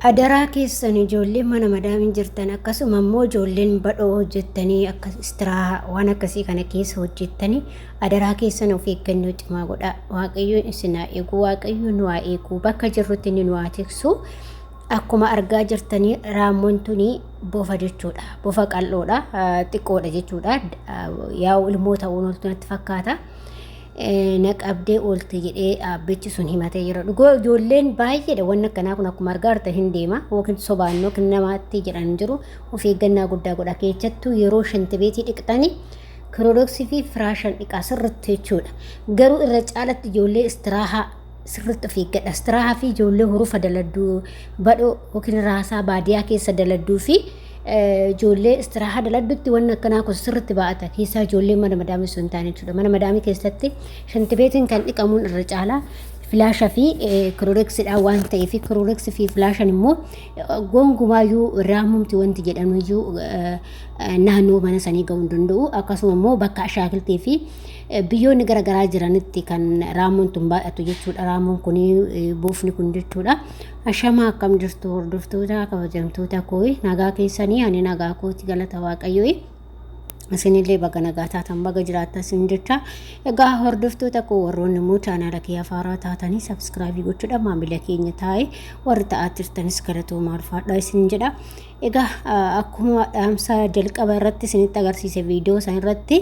Adaraa keessan ijoolleen mana madaamiin jirtan akkasuma immoo ijoolleen badhoo hojjettanii akka istiraaha waan akkasii kana keessa hojjettanii adaraa keessan of eeggannoo cimaa godhaa waaqayyoon isin haa eegu waaqayyoon nu haa eegu bakka jirrutti inni nu haa tiksu akkuma argaa jirtanii raammoon tuni bofa jechuudha bofa qal'oodha xiqqoodha jechuudha yaa'u ilmoo ta'uu natti fakkaata. na qabdee oolte jedhee aabbichi sun himatee jira. Dhugaa ijoolleen baay'eedha wanni akkanaa kun akkuma argaa jirtan hin deema yookiin sobaan yookiin namaatti jedhan jiru of eeggannaa guddaa godha keessattuu yeroo shantibeetii dhiqxanii kiroodoksii fi firaashan dhiqaa sirritti jechuudha. Garuu irra caalatti ijoollee istiraahaa sirriitti of eeggadha. Istirahaa fi ijoollee hurufa daladduu badhoo yookiin raasaa baadiyaa keessa daladduu fi ijoollee istirahaa daladdutti wanni akkanaa kun sirriitti baa'ata. Keessaa ijoollee mana madaamii sun taane jechuudha. Mana madaamii keessatti shantibeetiin kan dhiqamuun irra caalaa filaasha fi kirooreksidhaan waan ta'eef kirooreksi fi filaashan immoo gongumaayuu raamumti wanti jedhamuyyuu naannoo mana sanii ga'uu hin danda'u. Akkasuma immoo bakka ashaakiltii fi Biyyoonni gara garaa jiranitti kan raamoon tun baay'atu jechuudha. Raamoon kun buufni kun jechuudha. Ashamaa akkam jirtu hordoftoota kabajamtoota koo nagaa keessanii ani nagaa kooti galata waaqayyoo. Isinillee baga nagaa taatan baga jiraattan isin jecha. Egaa hordoftoota koo warroonni immoo chaanaala kee afaaraa taatanii sabskraabii gochuudha maamila keenya taa'e warri ta'aa jirtanis galatoomaa ulfaadhaa isin jedha. Egaa akkuma dhaamsa jalqaba irratti isinitti agarsiise viidiyoo san irratti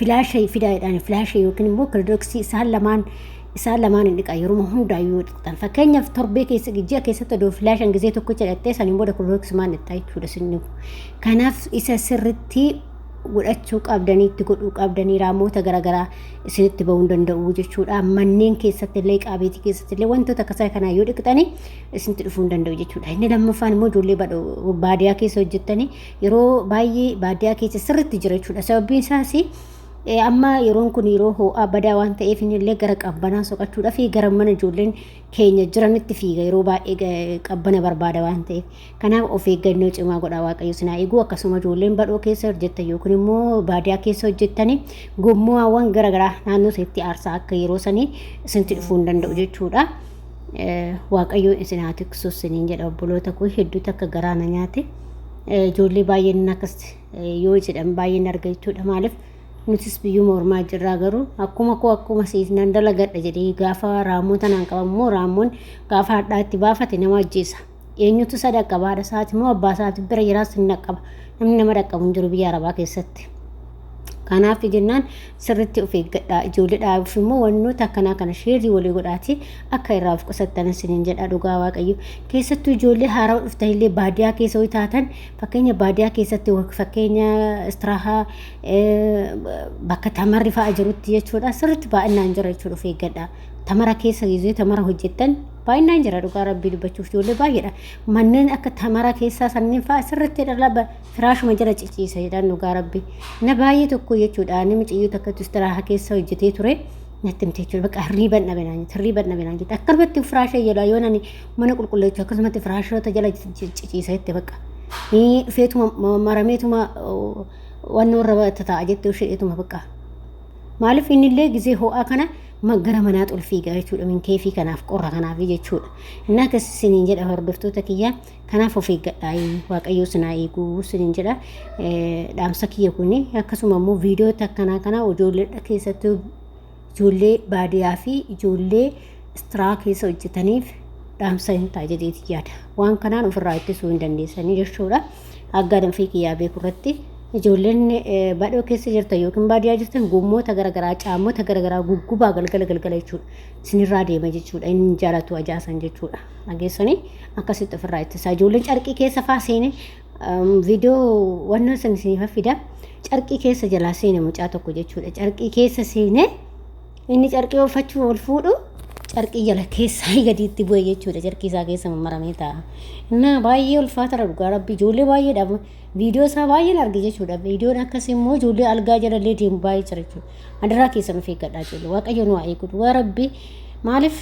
filaasha fidaa jedhaan filaasha yookiin immoo kilodoksii isaan lamaan isaan lamaan hin dhiqan yeroo hundaa yoo dhiqxan fakkeenyaaf torbee keessa ji'a keessatti odoo filaashan gizee tokko jedhattee saniin booda kilodoksii maan dhiqxaa jechuudha sinni kanaaf isa sirritti godhachuu qabdanii itti godhuu qabdanii raamoota garaagaraa isinitti ba'uu danda'u jechuudha manneen keessatti illee qaabeetii keessatti illee wantoota akkasaa kanaa yoo dhiqxanii isinitti dhufuu danda'u jechuudha inni lammaffaan immoo ijoollee baadiyyaa keessa hojjettanii yeroo baay'ee baadiyyaa keessa sirriitti jira jechuudha. Sababiin isaas amma yeroon kun yeroo ho'aa badaa waan ta'eef illee gara qabbanaa soqachuudhaaf gara mana ijoolleen keenya jiranitti fiiga yeroo baay'ee qabbana barbaada waan ta'eef. Kanaaf of eeggannoo cimaa godhaa waaqayyo sinaa eeguu akkasuma ijoolleen badhoo keessa hojjettan yookiin immoo baadiyyaa keessa hojjettanii gommuwaawwan garaagaraa naannoo isheetti aarsaa akka yeroo sanii isinti dhufuu hin danda'u jechuudha. Waaqayyo isin haa tiksu isiniin jedha obboloota koo hedduutu akka garaa na nyaate. ijoollee baay'een akkas yoo jedhan baay'een arga jechuudha maaliif nutis biyyuma ormaa jirraa garuu akkuma koo akkuma siif nan dalagadha jedhee gaafa raammoo tanaan qabammoo raammoon gaafa hadhaa itti baafate nama ajjeesa eenyutu isa dhaqqaba haadha isaati moo abbaa isaati bira jiraas hin dhaqqaba namni nama dhaqqabu hin jiru biyya arabaa keessatti. Kanaaf jennaan sirriitti of eeggadhaa ijoollee dhaabuuf immoo wantoota akkanaa kana sheerrii walii godhaatii akka irraa of qusattan isiniin jedha dhugaa waaqayyo keessattuu ijoollee haarawa dhuftan illee baadiyaa keessa ho'i taatan fakkeenya baadiyaa keessatti fakkeenya istiraahaa bakka tamarri fa'a jirutti jechuudha sirriitti baay'inaan jira jechuudha of eeggadhaa tamara keessa gidduu tamara hojjettan baay'inaan jira dhugaa rabbii dubbachuuf ijoollee baay'eedha manneen akka tamara keessaa sanniin fa'a sirriitti dhalaba firaashuma jala ciciisa jedhaan dhugaa rabbi na baay'ee tokko jechuudha ani mucayyoo takkatu istiraaha keessa hojjetee ture natti himte jechuudha bakka hirriiban dhabe naan jette hirriiban dhabe naan jette akkanumatti firaasha jala yoo nani mana qulqulleechu akkasumatti firaashoota jala ciciisa jette bakka ni dhufeetuma marameetuma wannoo irra tataa jette usheetuma bakka maaliif innillee gisee ho'aa kana gara manaa xulfiigaa jechuudha minkeefii kanaaf qorra kanaaf jechuudha innaa akkasisiniin jedha hordoftoota kiyyaa Kanaaf of eeggadhaa waaqayyoo sinaa eeguu sinin jedha dhaamsa kiyya kun akkasuma immoo viidiyoota akkanaa kana ijoollee keessattuu ijoollee baadiyyaa fi ijoollee istiraa keessa hojjetaniif dhaamsa hin ta'a jedheeti yaada. Waan kanaan ofirraa ittisuu hin dandeessanii jechuudha. Aggaadhaan fi kiyyaa beeku irratti ijoolleen badhoo keessa jirtan yookiin baadiyyaa jirtan gommoota garaagaraa caammota garaagaraa guggubaa galgala galgala jechuudha. Isinirraa deema jechuudha. Inni jaalatu ajaasan jechuudha. dhageessanii akkasitti ofirraa ittisaa ijoolleen carqii keessa faa seenee viidiyoo wanna san isiniif fida carqii keessa jalaa seene mucaa tokko jechuudha carqii keessa seenee inni carqii uffachuu ol fuudhu carqii jala keessaa gadiitti bu'e jechuudha carqii isaa keessa mammaramee ta'a. Innaa baay'ee ulfaatadha dhugaa rabbi ijoollee baay'eedhaaf Viidiyoo isaa baay'een arge jechuudha. Viidiyoon akkas immoo ijoollee algaa jalallee deemu baay'ee jira jechuudha. Adaraa keessan of eeggadhaa ijoollee. Waaqayyoon waa eegu. Dhugaa rabbi maaliif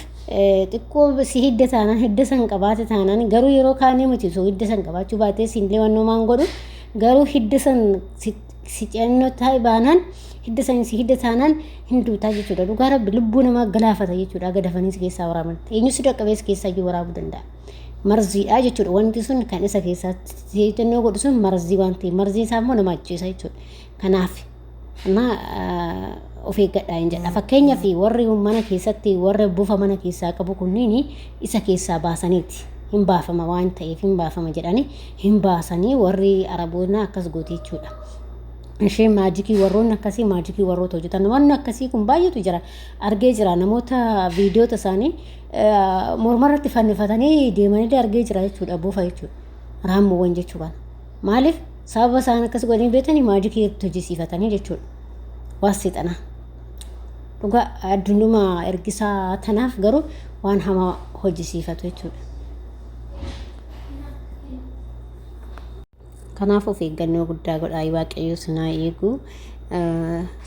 xiqqoo si hidda taanaan hidda san qabaate taanaan garuu yeroo kaanii miti osoo hidda san qabaachuu baatee siin leewannoo maan godhu garuu hidda san si ce'annoo taa'e baanaan hidda san si hidda taanaan hin duutaa jechuudha. Dhugaa rabbi lubbuu namaa galaafata jechuudha. Aga dafanii si keessaa waraaban. Eenyu si dhaqqabees keessaa iyyuu waraabuu danda'a. marziidha jechuudha wanti sun kan isa keessaatti seejjannoo godhu sun marzii waan ta'eef marziin isaa immoo nama ajjeesa jechuudha kanaaf amma of eeggadhaa hin jedha fakkeenyaaf warri mana keessatti warra bufa mana keessaa qabu kunniin isa keessaa baasaniiti hin baafama waan ta'eef hin baafama jedhanii hin baasanii warri araboonaa akkas goote jechuudha. ishee maajikii warroonni akkasii maajikii warroota hojjetan wanni akkasii kun baay'eetu jira argee jira namoota viidiyoota isaanii morma irratti fannifatanii deemanillee argee jira jechuudha bofa jechuudha raammoowwan jechuu kana maaliif sababa isaan akkas godhanii beekanii maajikii itti hojjisiifatanii jechuudha waan seexanaa dhugaa addunyaa ergisaa tanaaf garuu waan hamaa hojjisiifatu jechuudha. Kanaaf of eeggannoo guddaa godhaayi waaqayyoo sinaa eegu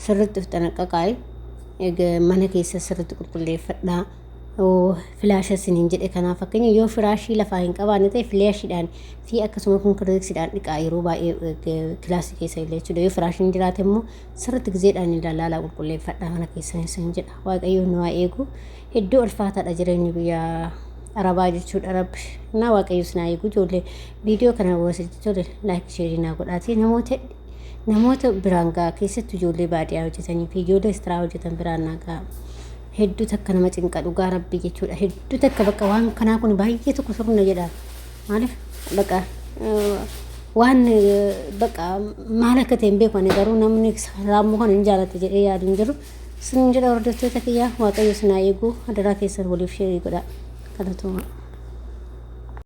sirritti of xanaqqaqaayi mana keessa sirritti qulqulleeffadhaa. Filaasha isiniin jedhe kanaaf fakkeenya yoo firaashii lafaa hin qabaanne ta'e filaashiidhaan fi akkasuma kun kirdeeksiidhaan dhiqaa yeroo baay'ee kilaasii keessa illee jechuudha. Yoo firaashiin jiraate immoo sirritti gizeedhaan ilaalaa qulqulleeffadhaa mana keessan isiniin jedha. Waaqayyoo nu haa eegu. Hedduu ulfaataadha jireenyi biyya arabaa jechuudha rabbi. Naa waaqayyoo sinaa eegu ijoollee Viidiyoo kana hawwaasatti tole laayik sheerii naa godhaatii namoota namoota biraan ga'a keessattuu ijoollee baadiyyaa hojjetanii fi ijoollee istiraa hojjetan biraan naa ga'a. Hedduu takka nama cinqa dhugaa rabbii jechuudha. Hedduu takka bakka waan kanaa kun baay'ee tokko sirna jedha. Maaliif bakka waan bakka maal akka ta'e hin beeku ani garuu namni raammoo kana hin jaalatte jedhee yaadu hin jiru. Sun jedha hordoftoota kiyyaa waaqayyo sinaa eeguu adaraa keessan waliif sheerii godha. Galatoomaa.